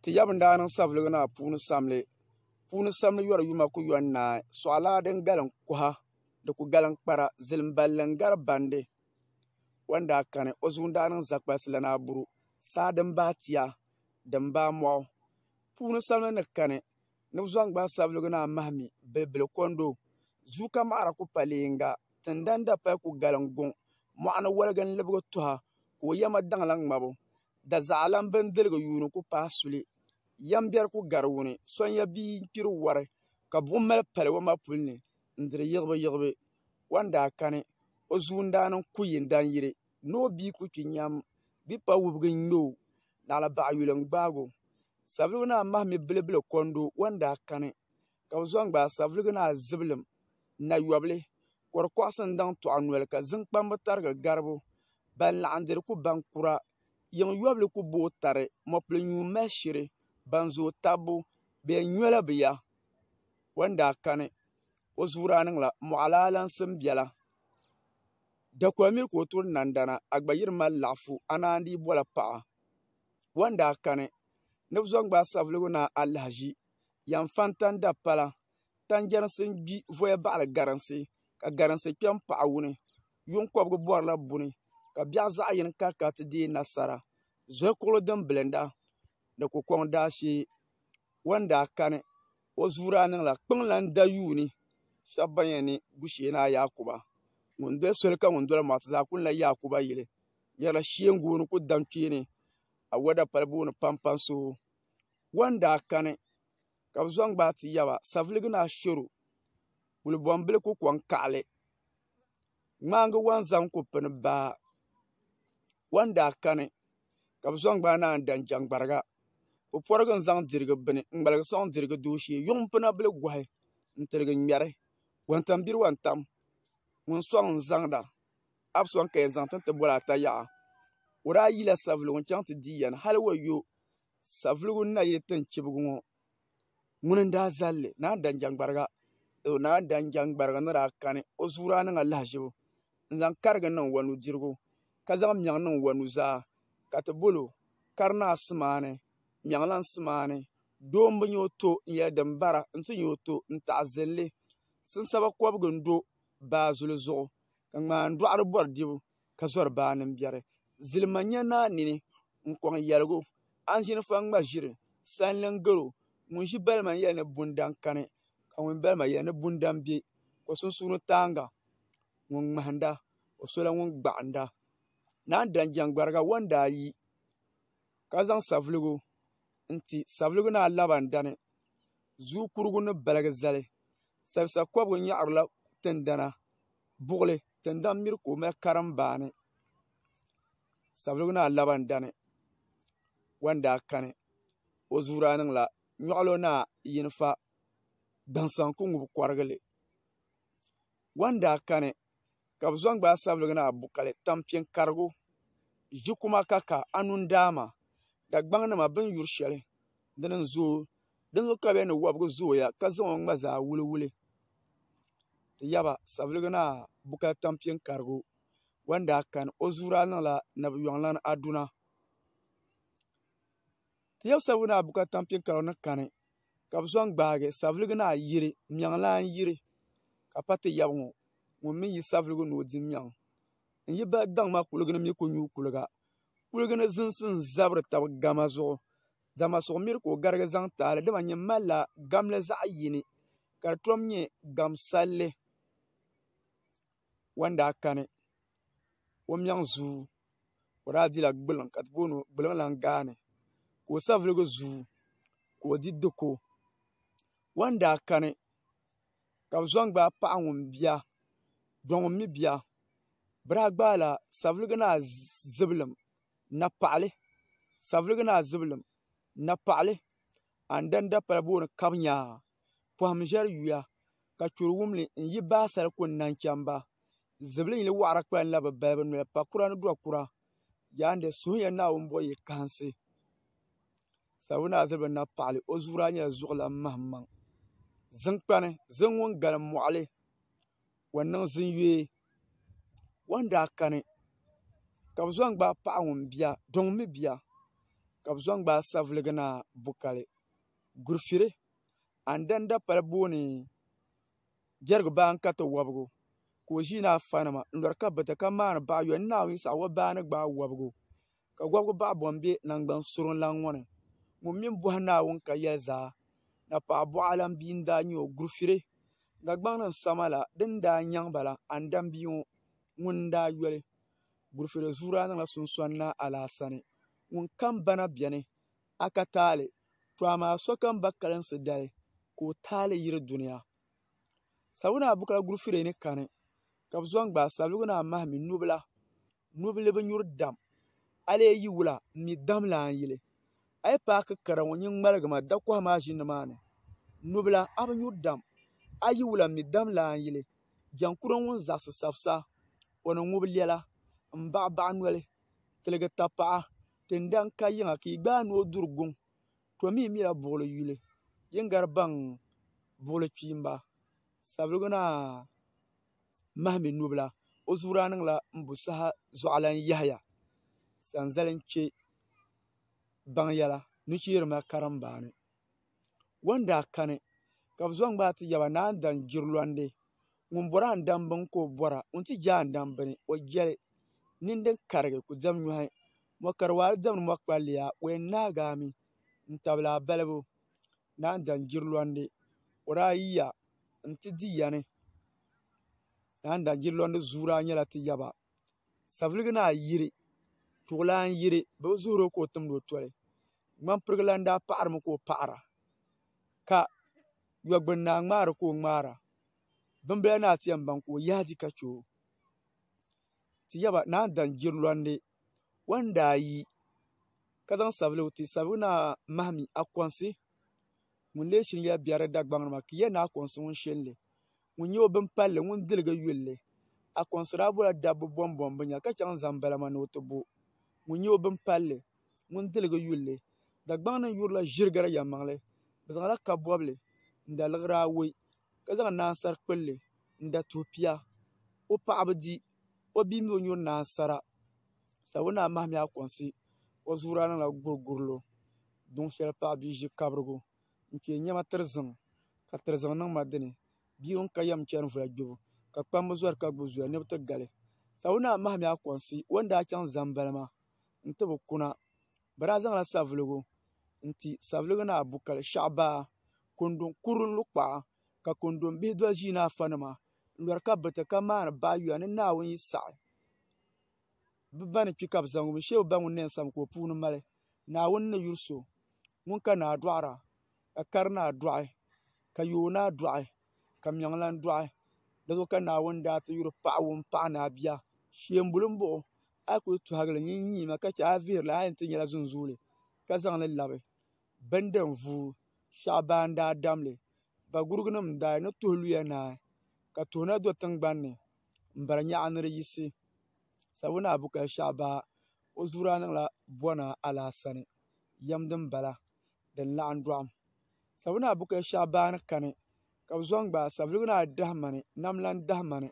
Ti yaba n-daa niŋ saviligi naa puuni samli. Puuni samli yɔri yuma ku yɔn naai. Sɔɣilaa din galim kuha, di ku galim kpara. Zilim balli n-gari bandi. O ni daa kani, o zuŋ daa niŋ zakpalisi lana aburu, saa din baai tia, din baai mɔɣu. Puuni samli ni kani, ni bɛ zaŋ gbaai saviligi naa mahi mi, bilibili kondo. Zuuka maɣira ku pali yiŋga. Tindani dapali ku galim guŋ. Mɔɣu ni woligi n-libigi tuha, ka o yɛma daŋla ŋmabu. Dazaɣalan bindirigu yuuni ku paai suli, Yɛmbiɛri ku gari wuni, Sonya bia n-kpiri wari, Ka buɣim mali pali o ma puli ni n-diri yiɣibuyiɣibu. O ni daa kani, o zuundani n-ku yi n-dan yiri, Ni o bia ku kpi nyam, Bikpa wubigi n-ŋme o, Naɣila baɣa yuli n-gbaag o. Savelugu Naa Mahimi Bilibili Kondo, O ni daa kani, ka bi zaŋ gbaai savelugu ni azibilim nayobili ka di koɣasi n daŋ tɔɣa noli ka zim kpamba tarigi garibu ban laɣim diri ku baŋ kura yiŋ yobili ku booi tari mopili nyu mali shiri ban zooi tabbu bɛ yɛn nyola bɛ ya o ni daa kani o zuuri a niŋla moɣali alaŋsim biɛla dakol miri ka o turi nandana a gba yiri mali laɣafu a naan dii bola paɣa o ni daa kani ni bi zaŋ gbaai savelugu ni alahaʒi yan fan tan da pala tan jɛrisi n gbi voya baɣali garinsi ka garinsi kpɛ n paɣi wuni yuŋ kɔbigu bɔrila buni ka biɛɣu zaɣi yini kah kana ti dɛɛ nasara zuɣu kuɣili din bilinda ni ku kɔŋ daa shee o ni daa kani o zuu daa niŋla kpɛŋ lan da yuuni shɛba ban yɛn ni gushee ni a Yaakuba ŋun doli soli ka ŋun doli maa ti zaa kuli la Yaakuba yili nyarila sheengu o ni ku daŋ kpeeni awɔda palibu ni pampani so Wɔn daa kani ka bɛ zaŋ gbaai ti yaba saviligi ni ashero kuli bombili ku koŋ kaɣali ŋmaagi wɔn zaŋ ku pini baa wɔn daa kani ka bɛ zaŋ gbaai naanyi dan jɛŋgbariga puporigi n zaŋ dirigi bini n ŋmaligi soŋ dirigi duu shee yuŋ pina bili gohi n tiligi ŋmɛri wantambiri wantam ŋun soŋ n zaŋda hali soŋ ka yɛn zaŋ tin ti boli ata yaha o daa yila saviligu n chaŋ ti di yɛn hali o yo Savelugu ni na yi tin chibigu ŋɔ, ŋuni n-daa zal li? Naa Danjangbarga! Doo Naa Danjangbarga ni daa kani, o zuɣu daa niŋla lahiʒibu n-zaŋ karigi niŋ o nudirigu, ka zaŋ mɛɣu niŋ o nuzaa, ka ti bol o, Kari Naa Simaani, Mɛɣulan Simaani, doo m-bi nya o to n-yɛli din bara nti nya o to n-taɣizinli. Sinsaba kɔbigu n-do baa zuli zuɣu, ka ŋmaandɔɣiri bɔri dibu. ka zɔri baa nim biɛri zilima nyɛ naa nini n kɔŋ yɛligu anʒini faŋ ŋma ʒiri sanlin gɛro ŋun ʒi balima n yɛli ni bundaŋ kani ka ŋun ʒi balima yɛli ni bundaŋ bɛ o sunsuuni tanga ŋun ŋmahanŋda o sola ŋun gbaɣanda naan dan jɛŋgbariga wo n daa yi ka zaŋ savuligu n-ti Savelugu Naa Labandani zuu kurigu ni baligi zali Sabisa kɔbigu nyaɣirila tindana buɣili tindaŋ miri ka o mali karimbaani Savelugu Naa Labandani wan daa kani o zuu daa niŋla Nyɔɣilo Naa Yinifa Gbaŋ Sanku ŋubu kɔrigili wan daa kani ka bɛ zaŋ gbaai sabiligi ni a bu kali tampiŋ karigu ʒi kuma ka ka a nu n-daama Dagbaŋ nima bɛ ni yuri shɛli dini n-zooi dinzuɣu ka bɛ yɛli ni wɔbigu zooya ka zaŋ o ŋma zaa wuli wuli ti yaba sabiligi ni a bu kali tampiŋ karigu wɔn daa kani o zuuri a niŋla nabiyɔŋ lana Aduna. Ti yab sabigu ni a bu ka tampiŋ kara ni kani, ka bɛ zaŋ gbaagi saviligu ni a yiri mɛŋlan yiri, ka pa ti yab ŋɔ ŋun mi yi saviligu ni o di mɛŋ. N yi bahi daŋ maa kuligi ni mi ku nyu kuliga. Kuligi ni zinsi n-zabiri tab gama zuɣu, dama suɣ miri ka o garigi zaŋ ti a li, dama nyin malila gamli zaɣ yini, ka di tom nyɛ gamsalli wan daa kani. o mɛŋ zuu ka o daa dila gbuliŋ ka bi booni gbuliŋ lan gaani ka o saviligi zuu ka o di diko o ni daa kani ka bi zaŋ gbaai paɣa ŋun bia do ŋun mii bia bi daa gbaala saviligi ni a zibilim napaɣali saviligi ni a zibilim napaɣali a ni dani dapali booni kabinyaa Pɔhim ʒiɛri yuya, ka churi wumli n-yi baasal ku n-naŋ cham ba. Zibili yili wɔɣira kpalim la bi balibu noli, pa kura ni dɔɣ kura. Jaande suhiya Naawuni bɔ yi kahinsi, Sabuna Aziriba Napaɣili, o zuuri a nyɛla zuɣulan mahimaŋ. Ziŋkpani, ziŋ ŋun galim mɔɣili, o niŋ ziŋ yɔɛ. Wɔn daa kani, ka bi zɔn gbaai paɣa ŋun bia, di ŋun mi bia, ka bi zɔn gbaai saviligi naa Bukali. Gurfiri, Andan Dapali booni Jɛrigu baa n-kariti wɔbigu, ka o ʒii ni afanima n-lɔri kabita ka maani baɣa yɔi ni Naawuni Yisihawɔ baa ni gbaai wɔbigu, ka wɔbigu baɣa bɔŋ be naŋgban surinlan ŋɔ ni. Ŋun mi bɔhi Naawuni ka yɛli zaa, napɔɣ bɔɣilan bia n-daa nyɛ o. Gurfiri, Dagbaŋ ni sama la din daa nyaŋ ba la, Andan bia ŋɔ ŋun n-daa yoli. Gurfiri zuuri daa niŋla sunsɔni Naa Alaasani ŋun kam bana beni. a ka taali, to amaa sokam ba kalinsi dali ka o taali yiri dunia. Sabigu naa Bukala Gurufire ni kani ka bɛ zɔŋ gbaai Sabigu naa Mahimi nubila, nubili bi nyuri dam, a lee yi wula m-mi dam la a ni yili. A yi paaki kara ŋɔ nyin ŋmaligi ma dakɔha maa ʒini maa ni. Nubila, a bi nyuri dam, a yi wula m-mi dam la a ni yili. Jankuro ŋun zaɣisi sabisa, o ni ŋubi lɛla, m-baɣibaɣi noli, tiligi tapaɣa, Ti ni daa ka yiŋa ka yi gbaai ni o duri guŋ, to mi yi mila buɣili yuli, yi ni gari baŋ buɣili kpiimba, Savelugu Naa mahimi nubila, o zuɣu daa niŋla m-bu saha zuɣulan Yahaya Sanzali n-chɛ baŋ yɛla nucheerima karimbaani. Ŋɔni daa kani ka bi zaŋ gbaai ti yaba ni a ni dan jiri lɔndi ŋuni bɔri a ni dani bini ka o bɔra ŋuni ti jɛ a ni dani bini o jɛli nini din karigi ku dɛm nyɔhi mɔkari waari dɛm ni mɔkpalliya o yɛn naagi a mi n tabili a balibu ni a ni dani jiri lɔndi o daa yiya n ti di yani ni a ni dani jiri lɔndi zuura nyɛla ti yaba. Savelugu naa yiri tuɣulan yiri bɛ bi zuhuri o ka o timdi o toli ŋmampirigilan daa paɣirimi ka o paɣira ka Yɔgbuni naa ŋmaari ka o ŋmaara bimbila naa ti yɛn baŋ ka o yahi di ka che o ti yaba naa daŋ jirilɔnde o ni daa yi ka zaŋ savelugu ti savelugu naa mahi mi Akonsi ŋun lee shiri yɛla biɛri Dagbaŋ ni maa ka ya ni Akonsi ŋun shiri li Ŋun nyɛ o bin palli ŋun diligi yulli A kɔnsiraabɔla dabbu bɔmbɔm bi nya ka chaŋ zaŋ balama ni o ti bo Ŋun nyɛ o bin palli ŋun diligi yulli Dagbaŋ ni yurila ʒirigiri yɛlimaŋli Bɛ zaŋla kabɔbili n-da liɣiri awɔi Ka zaŋ naansari kpulli n-da tuhi pia O paɣa bi di o bia mi o nyuri naansara Sabbu naa mahimiya kɔnsi O zuɣuri a niŋla gurigurilo Duŋ shɛli paɣ bia ʒi kabirigu n kpee nyɛma tiriziŋ ka tiriziŋ niŋ ma dini bia ŋun ka yɛm n chɛni voli gbubu ka kpamba zori ka gbubi zuya ni bi ti gali ka bi naa mahami akonsi o ni daa chɛŋ zambali maa n ti bi kuna bi daa zaŋla savuligu n ti savuligu ni abu kali shaɣu baa kundi kuri n lu kpaɣa ka kundi bihi doli ʒii ni afa nima n lori ka bi ti ka maani bahi yuya ni naawuni yi saɣi bi ba ni kpi ka bi zaŋ o mi shee bi ba ŋun na yɛn sami ka o puuni mali Naawuni ni yuri so ŋun ka naa dɔɣira ka kari naa dɔɣi ka yooi naa dɔɣi ka miɛŋlan dɔɣi di zuɣu ka Naawuni daa ti yuri paɣa ŋun paɣi ni a bia shɛmbuli m-bɔŋɔ a yi kuli tɔhigi li nyin nyii ma ka che a ni vihiri li a yɛn ti nyɛla zunzuuli ka zaŋ li labi bindinvuui shɛɣu ban daa dam li Dagurugunima n-daa ni tuhi luya naai ka tuhi na do tiŋgbani ni m-bari nyaɣu ni di yisi sabuna bukali shɛɣu baa. O zuɣu daa niŋla Bɔna Alaasani yɛm din bala din laɣim dɔɣim Sabinaa Bukɛ Shaabaani kani ka bɛ zaŋ gbaai Sabiligu Naa Dahimani Nam Lan Dahimani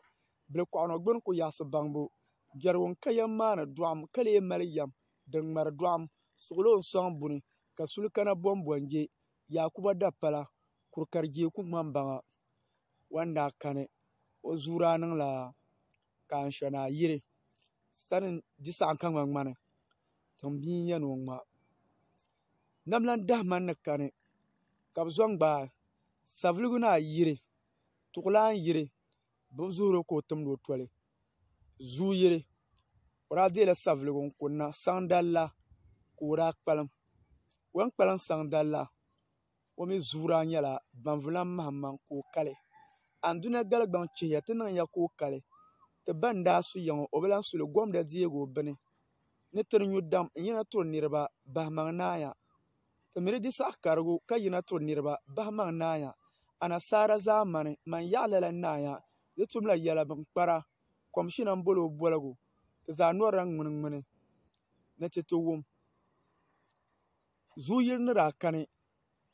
Bilikɔɣunɔ Gbuni Ku Yaɣisi Baŋbu Jɛrigu N-ka yɛm maa ni dɔɣim ka lee mali yɛm din ŋmari dɔɣim Suɣulo N-sɔŋ buni ka suli kana Bɔmbɔnje Yaakuba Dapala Kurikarijeeku Ŋmambaŋa Wan daa kani O zuɣu daa niŋla ka anshɔni ayi yiri sani n di saɣim ka ŋmani ŋmani tiŋ bia n yɛn o ŋɔ maa nam lan dahi mani ni kani ka bi zaŋ gbaai savelugu ni ayi yiri tuɣulana yiri bi bi zuɣuri ka o timdi o toli zuu yiri o daa dela savelugu n kuni na saŋ dali la ka o daa kpalim o yɛn kpalim saŋ dali la. o mi zuuraa nyɛla baŋvulan mahimaŋ ka o kali anduna galigbaŋ chihiya ti niŋya ka o kali ti ba n-daa su ya ŋɔ o bi lan su li gomda deeg o bini ni tiri nyu dam n-yina tiri niriba bahimaŋ naaya ti mi di di saɣ karigu ka yina tiri niriba bahimaŋ naaya anasaara zaamani man yaɣ lala naaya di tumla yɛla bini kpara komishina m-boli o boligu ti zaa nɔrila ŋminiŋmini ni ti ti wum Zuɣu yili ni daa kani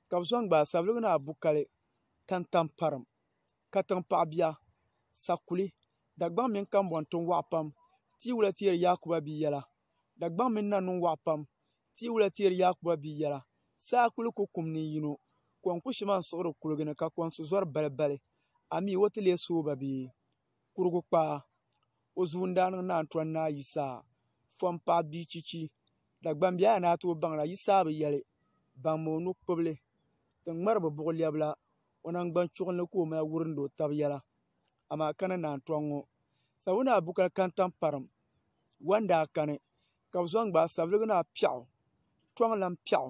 ka bi soŋ gbaai sabligi ni abukali ka n tam parim katiŋ paɣa bia sakuli dagbaŋ mini kanboŋ tiŋ waɣa pam tiwula teeri yaakuba bia yɛla dagbaŋ mini na niŋ waɣa pam tiwula teeri yaakuba bia yɛla saa kuli ku kum ni yino kom ku shima n siɣiri kuligi ni ka konsi zori bali bali amii o ti lee sooba bee kurugu kpaa o zuun daa niŋ naan tɔri ni a yi saa fɔm paɣa bia chichi Dagbam bɛ a ni a tooi baŋla yi saa bi yɛli baŋ mi o nu kpubili ti ŋmari bi buɣu lɛbila o nangbani chuɣu ni ka o mali wurindi o tabi yɛla amaa ka ni naan tɔŋ ŋɔ sabu ni a bukal kantaŋ parim wɔn daa kani ka bi zɔn gbaai saviligi ni a piɛɣu tɔŋ lan piɛɣu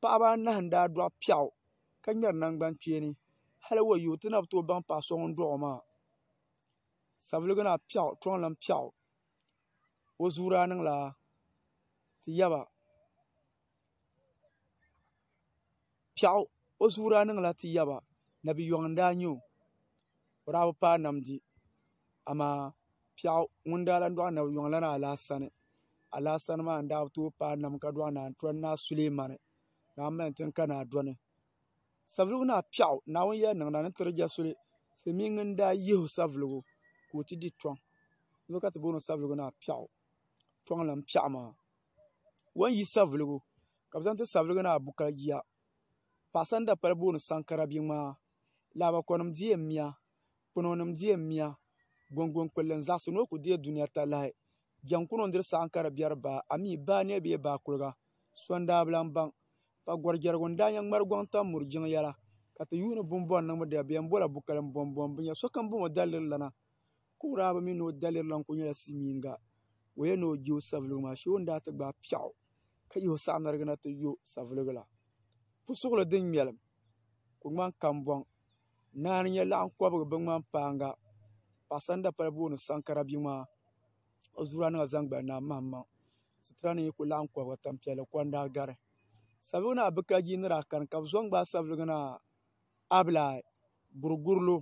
paɣaba anahi n daa dɔɣi piɛɣu ka ŋmɛri nangbani kpeeni hali wayo ti na bi tooi baŋ paɣa so ŋun dɔɣi o maa savelugu naa piɛɣu toonlan piɛɣu o zuu daa niŋ la ti yaba piɛɣu o zuu daa niŋ la ti yaba nabi yɔŋ n daa nyɛ o o daa bi paai namdi. amaa piɛɣu ŋun daa lahi dɔɣi nabi yuŋ lana alaasani alaasani maa n daa bi tooi paai nam ka dɔɣi naa n tɔri naa sulɛmani ni aŋ mali tin ka naa dɔni savelugu naa piɛɣu naawuni yɛli niŋda ni tiri jɛ suli silmiin n daa yihi o savelugu ka o ti di tɔŋ di zuɣu ka ti booni savelugu naa piɛɣu tɔŋ lani piɛɣu maa o ni yi savelugu ka bi zaŋ ti savelugu naa bukali jia paɣasa ni dapali booni sankara bia ŋmaa laaba konim diɛ n miya kpɛno nim deei miya gunguni kpulli n zaɣisi ni o ku deei dunia talahi jɛm ku niŋ diri saɣim ka di bɛri baa amii baa nɛbi bee baa kuliga so n daa bi lan baŋ ka gɔri jɛrigu n daa nyɛ ŋmari gɔŋ tam muri jiŋ yɛla ka ti yuuni bini bɔri niŋbu di bɛn bɔla bukali n bɔn bɔn bi nya so kam bɔŋɔ daliri lana kuɣiraaba mi ni o daliri lan ku nyɛla silmiinga ka o yɛn ni o je o savuligu maa shee o ni daa ti gbaai piɛɣu ka yihi o saɣinarigi na ti yo savuligu la pusuɣili din ŋmɛlim ku ŋmani kambɔŋ Naa n nyɛ laɣam kobigi bin ŋmani paanga paɣa so ŋun dabali booni sankara bia maa o zuɣula ni o zaŋ gbali naa maŋ maŋ sitira ni yi ku laɣam kobigi tanpiɛlli kondaa gari sabigi ni a bi ka jii ni daa kani ka bi zo n gbaai sabigi ni a bi lahi guri guri lo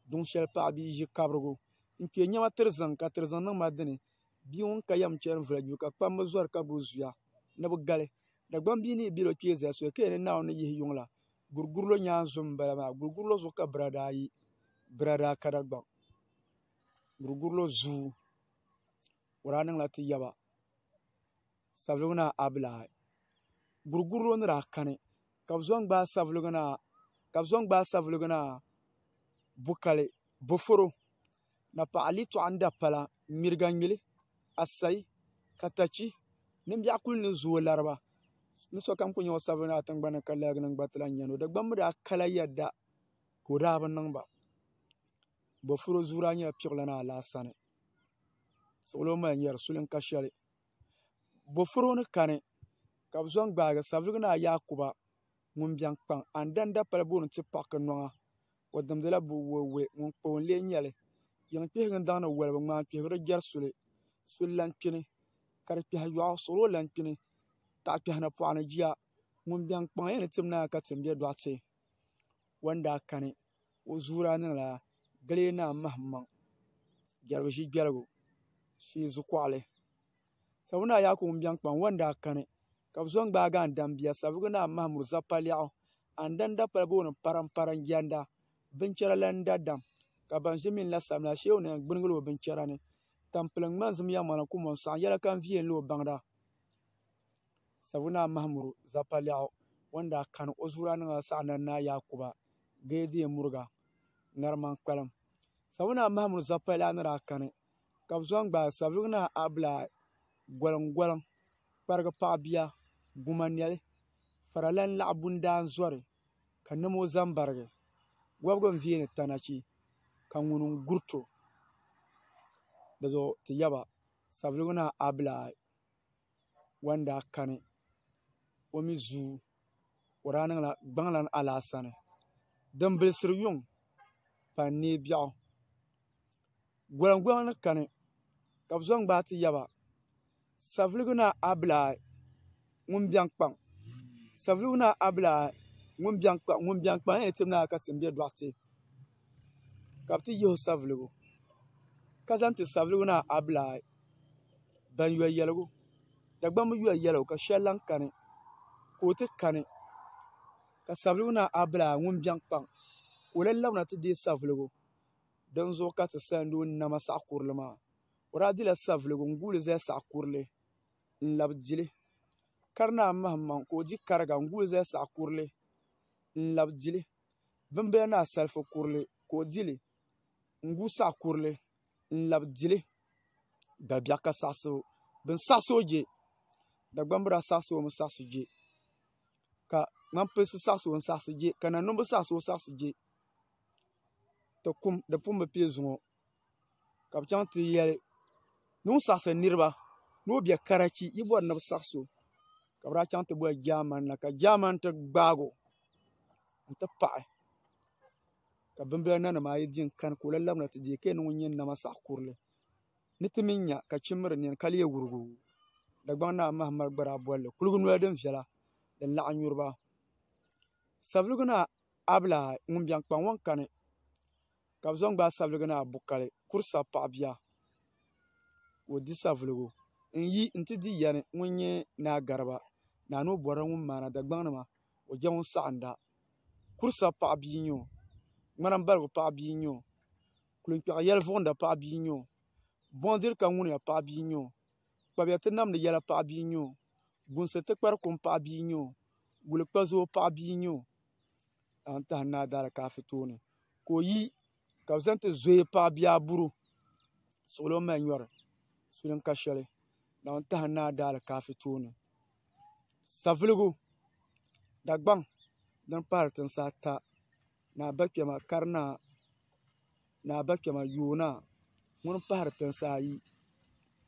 duŋ shɛli paɣa bia ʒi kabirigu n kpɛ niɛma tiri ziŋ ka tiri ziŋ niŋ ma dini bia ŋun ka yɛm chɛni voli gbibu ka kpam bi zori ka gbubi zuya ni bi gali Dagbaŋ bia ni yi bɛ di o kpee zali soli ka yɛn ni Naawuni ni yihi yuŋ la gurigurilo nyaansi n bala maa gurigurilo zuɣu ka biraada ayi biraada kara gba gurigurilo zuu o daa niŋla ti yaba savelugu naa abila ayi gurigurilo ni daa kani ka bi zo n gbaai savelugu naa bukali boforo na paɣa li tɔɣu n da pala n miriga nyuli asayi katachi nin biɛɣu kuli ni zooi lariba ni sokam ku nyɛ o sabiri ni a tingbani ka laa nim gba ti lahi nyɛli o dagbaŋ mi daa kala yɛda ka o daa bi niŋba boofurooto zuɣu daa nyɛla piɣila ni alaasa ni suɣulo mali nyɛri suli n ka shɛli boofurooto ni kani ka bi zaŋ gbaagi sabigi ni a yaakuba ŋun biɛŋ kpaŋ a ni dani dapali booni ti paaki noŋa o dimdila bo wuhi wuhi ŋun kpa o n lee nyɛli yiŋ kpihigi n daŋdi wolibi ŋmaa n kpihibiri jɛri soli soli lahi kpini ka di kpɛhi yɔɣu suɣuri o lahi kpini taɣa kpɛhi ni pɔɣa ni jia ŋun biɛŋ kpaŋ yɛn ni tim naai ka tim bɛ dɔɣite o ni daa kani o zuuri a ni na gili naa mahim maŋ jɛrigu ʒi jɛligu shee zukuɣali Sabi naa Yaakubu ŋun biɛŋ kpaŋ ŋɔ n daa kani ka bɛ zo n-gbaag a n-dambia Savelugu Naa Mahamud Zapaliɛɣu a ni danda pala bɛ o ni parampara n-jɛnda binchɛra la n-dadam ka ban ʒi min la sabimi la Sheeu Naim gbinigila o binchɛra ni Tampiliŋ ŋmani zim ya ŋmani kumo n-saɣi yɛla ka n viɛli o baŋda Savelugu Naa Mahamud Zapaliɛɣu ŋɔ n daa kani o zuɣu daa niŋ la saɣina ni Naa Yaakuba Geedee Muriga ŋarima n-kpalim Savelugu Naa Mahamud Zapaliɛɣu ni daa kani ka bi zaŋ gbaai savelugu naa abilaa goliŋ goliŋ kparigi paɣa bia guma noli fara lan laɣa bundaan zori ka niɛma o zaŋ barigi wobigi n viɛli tana chi ka ŋuni n gurito dizuɣu ti yaba savelugu naa abilaa wan daa kani o mi zuu o daa niŋla gbaŋlan alaasa ni din bilisiri yuŋ pa n nee biɛɣu gulanguli ni kani ka bi zo n gbaai ti yaba savelugu naa abilaa ŋun biɛŋ kpaŋ savelugu naa abilaa ŋun biɛŋ kpaŋ ŋun biɛŋ kpaŋ a ni yɛn ti mi naa ka ti n bɛ dɔɣite ka bi ti yihi o savelugu ka zaŋ ti savelugu maa abila ayi ban yɔ yɛligu Dagbaŋ mi yɔ yɛligu ka shɛli lahi kani ka o ti kani ka savelugu maa abila ayi ŋun biɛni kpaŋ ka o lahi labina ti deei savelugu din zuɣu ka ti sandi o nama saɣa kurili maa o daa dila savelugu n guuli zali saɣa kurili n labi dili kari naa mahim maŋ ka o di kariga n guui zali saɣa kurili n labi dili bini bɛ ni asarifo kurili ka o dili n guui saɣi kurili n labi dili dabiɛɣu ka saɣisi o bin saɣisi o jɛ Dagbaŋ biraa saɣisi o mi saɣisi jɛ ka ŋmani pilisi saɣisi o mi saɣisi jɛ ka nanimbi saɣisi o saɣisi jɛ di pun bi piɛ zuŋɔ ka bi chɛŋ ti yɛli ni ŋun saɣasiri niraba ni o bɛ karachi yi bori ni bi saɣam so ka bi daa chɛŋ ti boli jaamani na ka jaamani ti gbaagi o n ti paɣi ka bimbila nanim ayi di n kani ka o la labina ti deei ka yɛn niŋ ŋun nyɛ nama saɣa kurili ni ti mii nya ka chimmiri nini ka lee wurugi o dagbaŋ naa maham mali gba daa bolili kuligi noli din viɛla din laɣam nyuriba savelugu naa abila ŋun biɛni kpaŋ ŋo n kani ka bɛ zaŋ gbaai sabiliga ni Abukali kuri sabi paɣa bia ka o di savuligu n yi n ti di yani ŋun nyɛ Naa Gariba Naa ni o bɔrila ŋun maana Dagbaŋ ni maa o je ŋun saɣinda kuri sabi paɣa bia n-nyɛ o ŋmana m-baligu paɣa bia n-nyɛ o kulunkpɛɣu yɛli vuɣinda paɣa bia n-nyɛ o buɣim diri ka ŋuniya paɣa bia n-nyɛ o kpabiya ti namdi yɛla paɣa bia n-nyɛ o gunsi ti kpari kum paɣa bia n-nyɛ o gulikpazoo paɣa bia n-nyɛ o. ka n tahi Naa Daa Alikafi tooni ka o yi ka bi zaŋ ti zooi paɣa bia buru suɣili o ni mali nyɔri sulim ka shɛli ka n tahi Naa Daa Alikafi tooni savuligu Dagbaŋ din pahiri tinsi ata ni abakpɛma karinaa ni abakpɛma yoonaa ŋuni n pahiri tinsi ayi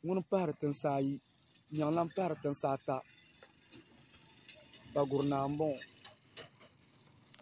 ŋuni n pahiri tinsi ayi nyɛŋ lahi pahiri tinsi ata Daguli naa n bɔŋɔ.